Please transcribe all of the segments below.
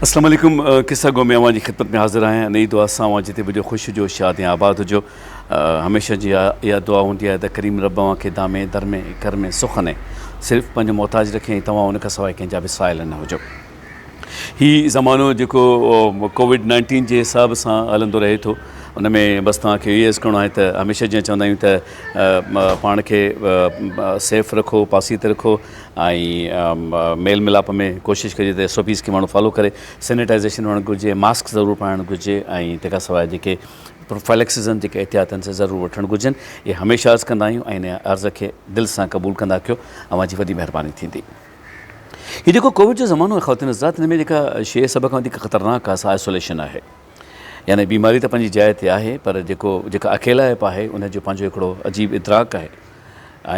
السلام علیکم قصہ گو میں اوان جي خدمت ۾ حاضر آهيان انهي دعا سان اوان جتي به هجو خوش هجو شاد ۽ آباد هجو هميشه جي اها دعا هوندي آهي ته ڪريم رب اوهان کي دامي درمي ڪرمي سخني صرف پنهنجو محتاج رکي ۽ توهان ان کان سواء ڪنهن جا به سائل نه هجو هي زمانو جيڪو ڪووڊ نائنٽين جي حساب سان هلندو رهي ٿو ان ۾ بس توهان کي اهو عرض ڪرڻو آهي ته هميشه جيئن چوندا آهيون ته پاڻ کي سيف رکو پاسيت رکو ۽ ميل ملاپ ۾ ڪوشش ڪجي ته سوپيز کي ماڻهو فالو ڪري سينيٽائزيشن هئڻ گهرجي ماسڪ ضرور پائڻ گهرجي ۽ تنهن کان سواء جيڪي پروفائلڪسزن جيڪي احتياط آهن سي ضرور وٺڻ گهرجن اهي هميشه عرض ڪندا آهيون ۽ ان عرض کي دل سان قبول ڪندا ڪيو اوهان جي وڏي مهرباني ٿيندي هي جيڪو ڪووڊ جو زمانو آهي خواتين حضرات هن ۾ جيڪا شيء سڀ کان وڌيڪ خطرناڪ آهي سا آئسوليشن آهي يعني بيماري ته پنهنجي جاء تي آهي پر جيڪو جيڪا اڪيلائپ آهي ان جو پنهنجو هڪڙو عجيب ادراڪ آهي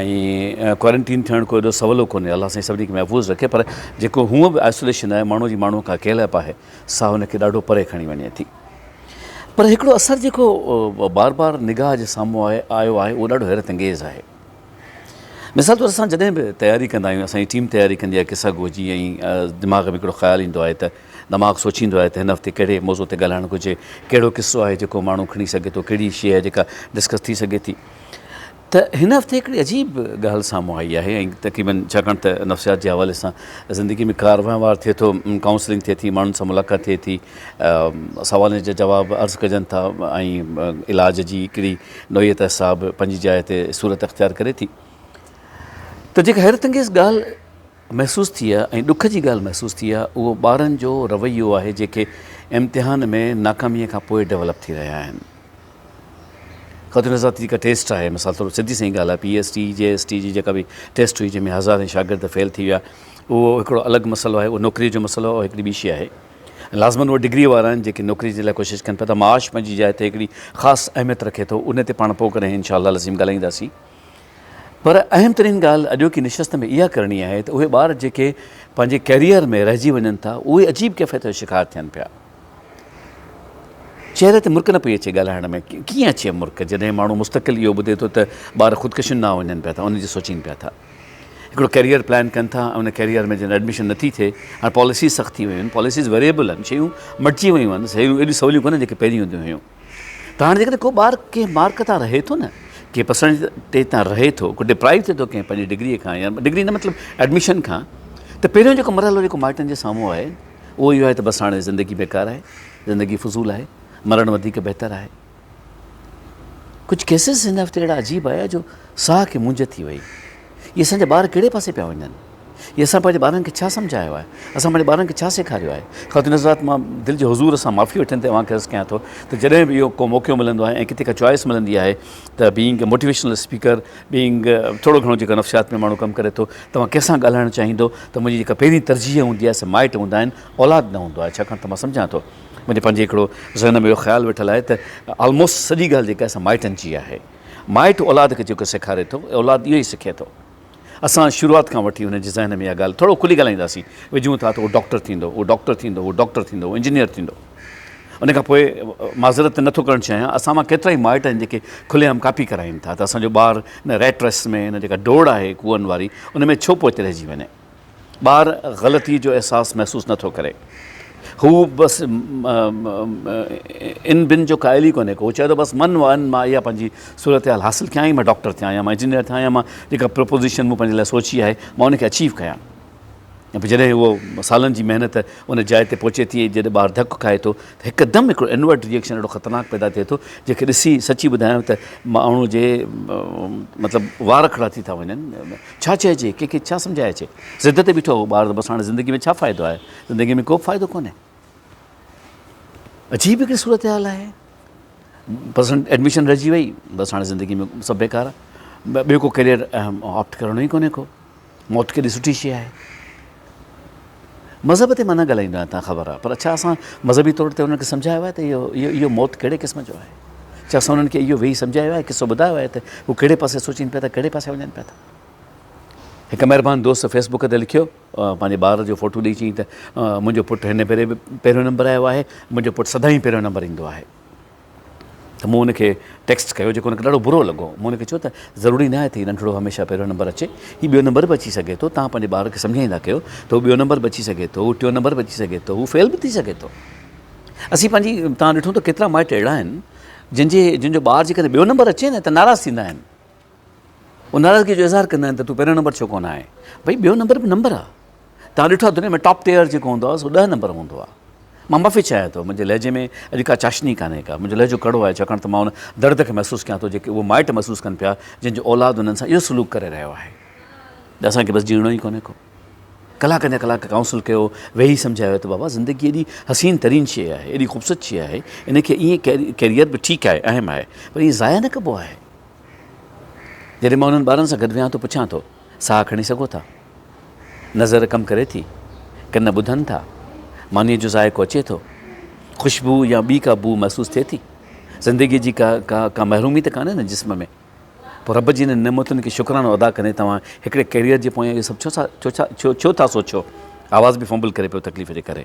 ۽ ڪوارنٽين ٿيڻ ڪو ايڏو سولو ڪونهي الله سائين سڀني کي محفوظ رکي پر جيڪو هونء به آئسوليشن آهي ماڻهو جي ماڻهو کان اڪيلائپ آهي سا هن کي ڏاڍو پري کڻي وڃي ٿي پر هڪڙو اثر جيڪو بار بار نگاهه جي سامهون آيو آهي اهو ڏاڍو حيرت انگيز آهي مثال طور اسان جڏهن به تياري ڪندا آهيون اسان جي ٽيم تياري ڪندي آهي قصه گوء جي ۽ دماغ ۾ هڪڙو خيال ايندو آهي ته دماغ سوچيندو آهي ته هن هفتي ڪهڙي موضوع تي ڳالهائڻ گهرجي ڪهڙو قصو آهي جيڪو ماڻهو کڻي سگهي ٿو ڪهڙي شيء آهي جيڪا ڊسڪس ٿي سگهي ٿي ته هن هفتي هڪڙي عجيب ڳالهه سامهون آئي آهي ۽ تقريبن ڇاڪاڻ ته نفسيات جي حوالي سان زندگي ۾ ڪار وهنوار ٿئي ٿو ڪائونسلنگ ٿئي ٿي ماڻهن سان ملاقات ٿئي ٿي سوالن جا جواب عرض ڪجن ٿا ۽ علاج جي هڪڙي نوعيت حساب پنهنجي جاء تي صورت اختيار ڪري ٿي ته جيڪا حيرت انگيز ڳالهه محسوس ٿي آهي ۽ ڏک جي ڳالهه محسوس ٿي آهي اهو ٻارن جو رويو آهي جيڪي امتحان ۾ ناڪامي کان پوء ڊولپ ٿي رهيا آهن خاطر نظر آتي جيڪا ٽيسٽ آهي مثال طور سڌي سائين ڳالهه آهي P S T G S T جي جيڪا به ٽيسٽ هئي جنهن ۾ هزارين شاگرد فيل ٿي ويا اهو هڪڙو الڳ مسئلو آهي اهو نوڪري جو مسئلو هڪڙي ٻي شي آهي لازمن اهي ڊگريء وارا آهن جيڪي نوڪريء جي لاء ڪوشش ڪن پيا ته معاش پنهنجي جاء تي هڪڙي خاص اهميت رکي ٿو ان تي پاڻ پوء ڪڏهن انشاء الله العظيم ڳالهائينداسين پر اهم ترين ڳالهه اڄوڪي نشست ۾ اها ڪرڻي آهي ته اهي ٻار جيڪي پنهنجي ڪيريئر ۾ رهجي وڃن ٿا اهي عجيب ڪيفيت جو شڪار ٿين پيا چهري تي مرڪ نه پئي اچي ڳالهائڻ ۾ ڪيئن اچي مرڪ جڏهن ماڻهو مستقل اهو ٻڌي ٿو ته ٻار خودڪشين ڏانهن وڃن پيا ٿا ان جي سوچين پيا ٿا هڪڙو ڪيريئر پلان ڪن ٿا ۽ ان ڪيريئر ۾ جن ايڊميشن نٿي ٿئي هاڻي پاليسيز سخت ٿي ويون آهن پاليسيز ويريبل آهن شيون مٽجي ويون آهن شيون ايڏيون سوليون ڪونهن جيڪي پهرين هونديون هيون ته هاڻي جيڪڏهن ڪو ٻار ڪنهن مارڪ تان رهي ٿو نه ڪنهن پرسنٽيج تان رهي ٿو ڪو ڊپرائيو ٿئي ٿو ڪنهن پنهنجي ڊگريء کان يا ڊگري نه مطلب ايڊميشن کان ته پهريون جيڪو مرحلو جيڪو مائٽن جي سامهون آهي اهو اهو آهي ته بس هاڻي زندگي بيڪار آهي زندگي فضول آهي مرڻ وڌيڪ بهتر آهي ڪجهه ڪيسز هن هفتي اهڙا عجيب آيا جو ساهه کي مونجهه ٿي وئي. اهي اسان جا ٻار ڪهڙي پاسي پيا وڃن؟ اهي اسان پنهنجي ٻارن کي ڇا سمجهايو آهي؟ اسان پنهنجي ٻارن کي ڇا سيکاريو آهي؟ خواتين حضرات مان دل جي حضور سان معافي وٺندي اوهان کي عرض ڪيان ٿو ته جڏهن به اهو ڪو موقعو ملندو آهي ۽ ڪٿي ڪا چوائس ملندي آهي ته being a motivational speaker being ٿورو گهڻو جيڪو نفسيات ۾ ماڻهو ڪم ڪري ٿو توهان ڪنهن سان ڳالهائڻ چاهيندو ته منهنجي جيڪا پهرين ترجيح هوندي آهي سي مائٽ هوندا آهن اولاد نه هوندو آهي ڇاڪاڻ ته مان سمجهان ٿو منهنجي پنهنجي هڪڙو ذهن ۾ اهو خيال ويٺل آهي ته آلموسٽ سڄي ڳالهه جيڪا آهي سا مائٽن جي آهي. مائٽ اولاد کي جيڪو سيکاري ٿو اولاد اهو ئي سکي ٿو. اسان شروعات کان وٺي هن جي ذهن ۾ اها ڳالهه ٿورو کلي ڳالهائينداسين وجهون ٿا ته هو ڊاڪٽر ٿيندو هو ڊاڪٽر ٿيندو هو ڊاڪٽر ٿيندو هو انجنيئر ٿيندو. ان کان پوء معذرت ته نه ٿو ڪرڻ چاهيان اسان مان ڪيترا ئي مائٽ آهن جيڪي کلي عام ڪاپي ڪرائين ٿا ته اسان جو ٻار هن ريٽ ريس ۾ هن جيڪا ڊوڙ آهي ڪوئن واري ان ۾ ڇو پوئتي رهجي وڃي. ٻار غلطيء جو احساس محسوس نه ٿو ڪري. هو بس ان بن جو قائل ئي ڪونهي ڪو. هو چئي ٿو بس من وئن مان اها پنهنجي صورتحال حاصل ڪيان يا مان ڊاڪٽر ٿيان يا مان انجنيئر ٿيان يا مان جيڪا پروپوزيشن مون پنهنجي لاء سوچي آهي مان ان کي اچيو ڪيان. ۽ پوء جڏهن اهو سالن جي محنت ان جاء تي پهچي ٿي ۽ جڏهن ٻار ڌڪ کائي ٿو ته هڪدم هڪڙو انورٽ ري ايڪشن اهڙو خطرناڪ پيدا ٿئي ٿو جنهن کي ڏسي سچي ٻڌايان ته ماڻهو جي مطلب وار کڙا ٿي ٿا وڃن. ڇا چئجي؟ ڪنهن کي ڇا سمجهائجي؟ ضد تي بيٺو هو ٻار ته بس هاڻي زندگي ۾ ڇا فائدو آهي؟ زندگي ۾ ڪوبه فائدو ڪونهي. عجيب هڪڙي صورتحال آهي. بس ايڊميشن رهجي وئي بس هاڻي زندگي ۾ سڀ بيڪار آهي. ٻيو ڪو ڪيريئر آپٽ ڪرڻو ئي ڪونهي ڪو. موت ڪيڏي سٺي شيء آهي. مذهب تي مان نه ڳالهائيندو آهيان تان خبر آهي پر ڇا اسان مذهبي طور تي انهن کي سمجهايو آهي ته اهو اهو اهو موت ڪهڙي قسم جو آهي ڇا اسان انهن کي اهو ويهي سمجهايو آهي قصو ٻڌايو آهي ته هو ڪهڙي پاسي سوچين پيا ٿا ڪهڙي پاسي وڃن پيا ٿا هڪ مهربان دوست فيس بوڪ تي لکيو پنهنجي ٻار جو فوٽو ڏئي چيائين ته منهنجو پٽ هن ڀيري به پهريون نمبر آيو آهي منهنجو پٽ سدائين پهريون نمبر ايندو آهي ته مون هن کي ٽيڪسٽ ڪيو جيڪو هن کي ڏاڍو برو لڳو. مون هن کي چيو ته ضروري ناهي ته هي ننڍڙو هميشه پهريون نمبر اچي. هي ٻيو نمبر به اچي سگهي ٿو. توهان پنهنجي ٻار کي سمجهائيندا ڪيو ته هو ٻيو نمبر به اچي سگهي ٿو، هو ٽيون نمبر به اچي سگهي ٿو، هو فيل به ٿي سگهي ٿو. اسين پنهنجي توهان ڏٺو ته ڪيترا مائٽ اهڙا آهن جن جي جن جو ٻار جيڪڏهن ٻيو نمبر اچي نه ته ناراض ٿيندا آهن. هو ناراضگيء جو اظهار ڪندا آهن ته تون پهريون نمبر ڇو ڪونه آهين؟ ڀئي بيو نمبر به نمبر آهي. توهان ڏٺو آهي دنيا ۾ ٽاپ ٽيئر جيڪو هوندو آهي سو ڏهه نمبر هوندو آهي. مان معافي چاهيان ٿو منهنجي لهجي ۾ اڄ ڪا چاشني ڪانهي ڪا. منهنجو لهجو ڪڙو آهي ڇاڪاڻ ته مان ان درد کي محسوس ڪيان ٿو جيڪي اهي مائٽ محسوس ڪن پيا جن جو اولاد انهن سان اهو سلوڪ ڪري رهيو آهي ته اسان کي بس جيئڻو ئي ڪونهي ڪو. ڪلاڪن جا ڪلاڪ ڪائونسل ڪيو ويهي سمجهايو ته بابا زندگي ايڏي حسين ترين شيء آهي ايڏي خوبصورت شيء آهي ان کي ائين ڪيريئر به ٺيڪ آهي اهم آهي پر ائين ضايع نه ڪبو آهي. جڏهن مان انهن ٻارن سان گڏ ويهان ٿو، پڇان ٿو، ساهه کڻي سگهو ٿا؟ نظر ڪم ڪري ٿي؟ ڪن ٻڌن ٿا؟ مانيء جو ذائقو اچي ٿو؟ خوشبو يا ٻي ڪا بوء محسوس ٿئي ٿي؟ زندگيء جي ڪا ڪا ڪا محرومي ته ڪانهي نه جسم ۾؟ پوء رب جي انهن نعمتن کي شڪرانو ادا ڪندي توهان هڪڙي ڪيريئر جي پويان اهو سڀ ڇو ٿا سوچيو؟ آواز به فمبل ڪري پيو تڪليف جي ڪري.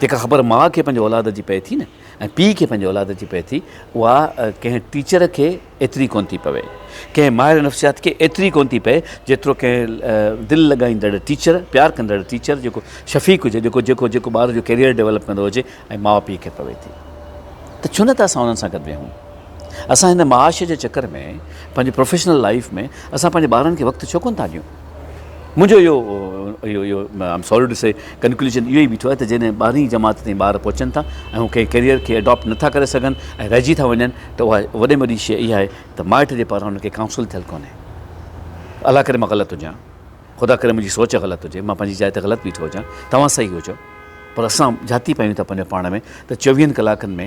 جيڪا خبر ماء کي پنهنجي اولاد جي پئي ٿي نه ۽ پيء کي پنهنجي اولاد جي پئي ٿي اها ڪنهن ٽيچر کي ايتري ڪونه ٿي پوي. ڪنهن ماهر نفسيات کي ايتري ڪونه ٿي پئي جيترو ڪنهن دل لڳائيندڙ ٽيچر، پيار ڪندڙ ٽيچر جيڪو شفيق هجي جيڪو جيڪو جيڪو ٻار جو ڪيريئر ڊيولپ ڪندو هجي ۽ ماء پيء کي پوي ٿي ته ڇو نه ته اسان انهن سان گڏ ويهون. اسان هن معاش جي چڪر ۾ پنهنجي پروفيشنل لائيف ۾ اسان پنهنجي ٻارن کي وقت ڇو ڪونه ٿا ڏيون. منهنجو اهو اهو اهو I am sorry to see conclusion اهو ئي بيٺو آهي ته جڏهن ٻارهين جماعت تائين ٻار پهچن ٿا ۽ هو ڪنهن ڪيريئر کي اڊاپٽ نٿا ڪري سگهن ۽ رهجي ٿا وڃن ته اها وڏي ۾ وڏي شيء اها آهي ته مائٽ جي پاران هن کي ڪائونسل ٿيل ڪونهي. الله ڪري مان غلط هجان. خدا ڪري منهنجي سوچ غلط هجي. مان پنهنجي جاء تي غلط بيٺو هجان. توهان صحيح هجو. پر اسان جهاتي پايون ٿا پنهنجو پاڻ ۾ ته چويهن ڪلاڪن ۾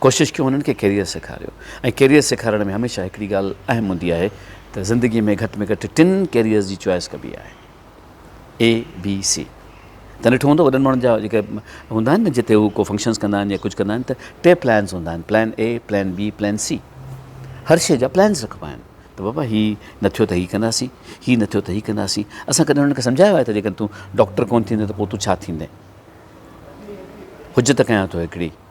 ڪوشش ڪيون هنن کي ڪيريئر سيکاريو ۽ ڪيريئر سيکارڻ ۾ هميشه هڪڙي ڳالهه اهم هوندي آهي ته زندگي ۾ گهٽ ۾ گهٽ ٽن ڪيريئرز جي چوائس ڪبي آهي اي بي سي تن ڏٺو هوندو وڏن ماڻهن جا جيڪي هوندا آهن نه جتي هو ڪو فنڪشنز ڪندا آهن يا ڪجهه ڪندا آهن ته ٽي پلانز هوندا آهن plan A plan B plan C هر شي جا پلانز رکبا آهن ته بابا هي نه ٿيو ته هي ڪنداسين هي نه ٿيو ته هي ڪنداسين اسان ڪڏهن هنن کي سمجهايو آهي ته جيڪڏهن تون ڊاڪٽر ڪون ٿيندين ته پوء تون ڇا ٿيندين حجت ڪيان ٿو هڪڙي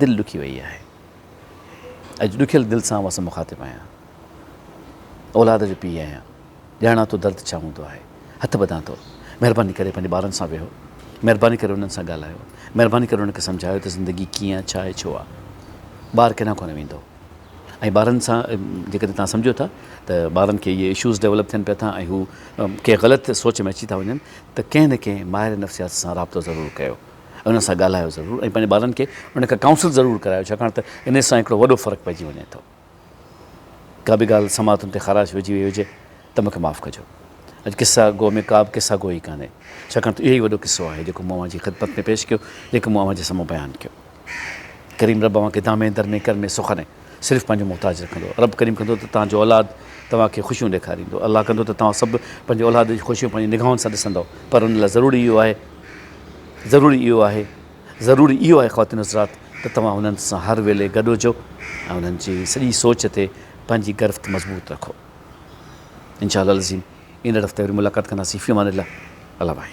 دل ڏکي وئي آهي. اڄ ڏکيل دل سان اوهان سان مخاطب آهيان. اولاد جو پيء آهيان. ڄاڻان ٿو درد ڇا هوندو آهي. هٿ ٻڌان ٿو. مهرباني ڪري پنهنجي ٻارن سان ويهو. مهرباني ڪري انهن سان ڳالهايو. مهرباني ڪري انهن کي سمجهايو ته زندگي ڪيئن آهي، ڇا آهي، ڇو آهي. ٻار ڪيڏانهن ڪونه ويندو. ۽ ٻارن سان جيڪڏهن توهان سمجهو ٿا ته ٻارن کي اهي اشوز ڊيولپ ٿين پيا ٿا ۽ هو ڪنهن غلط سوچ ۾ اچي ٿا وڃن ته ڪنهن نه ڪنهن ماهر نفسيات سان رابطو ضرور ڪيو ۽ انهن سان ڳالهايو ضرور ۽ پنهنجي ٻارن کي ان کان ڪائونسل ضرور ڪرايو ڇاڪاڻ ته ان سان هڪڙو وڏو فرق پئجي وڃي ٿو ڪا به ڳالهه سماعتن تي خراش وجهي وئي هجي ته مون کي معاف ڪجو. اڄ قصه گو ۾ ڪابه قصه گوئي ڪانهي، ڇاڪاڻ ته اهوئي وڏو قصو آهي، جيڪو مون اوهان جي خدمت ۾ پيش ڪيو، جيڪو مون اوهان جي سامهون بيان ڪيو. ڪريم رب اوهان کي دامين در ۾ ڪرمي سخني صرف پنهنجو محتاج رکندو. رب ڪريم ڪندو ته توهان جو اولاد توهان کي خوشيون ڏيکاريندو. الله ڪندو ته توهان سڀ پنهنجي اولاد جي خوشيون پنهنجي نگاهن سان ڏسندؤ. پر ان لاء ضروري اهو آهي، ضروري اهو آهي، ضروري اهو آهي خواتين حضرات ته توهان انهن سان هر ويلي گڏ هجو ۽ انهن جي سڄي سوچ تي پنهنجي گرفت مضبوط رکو. انشاء الله العظيم ايندڙ هفتي وري ملاقات ڪنداسين في امان الله الله بھائي.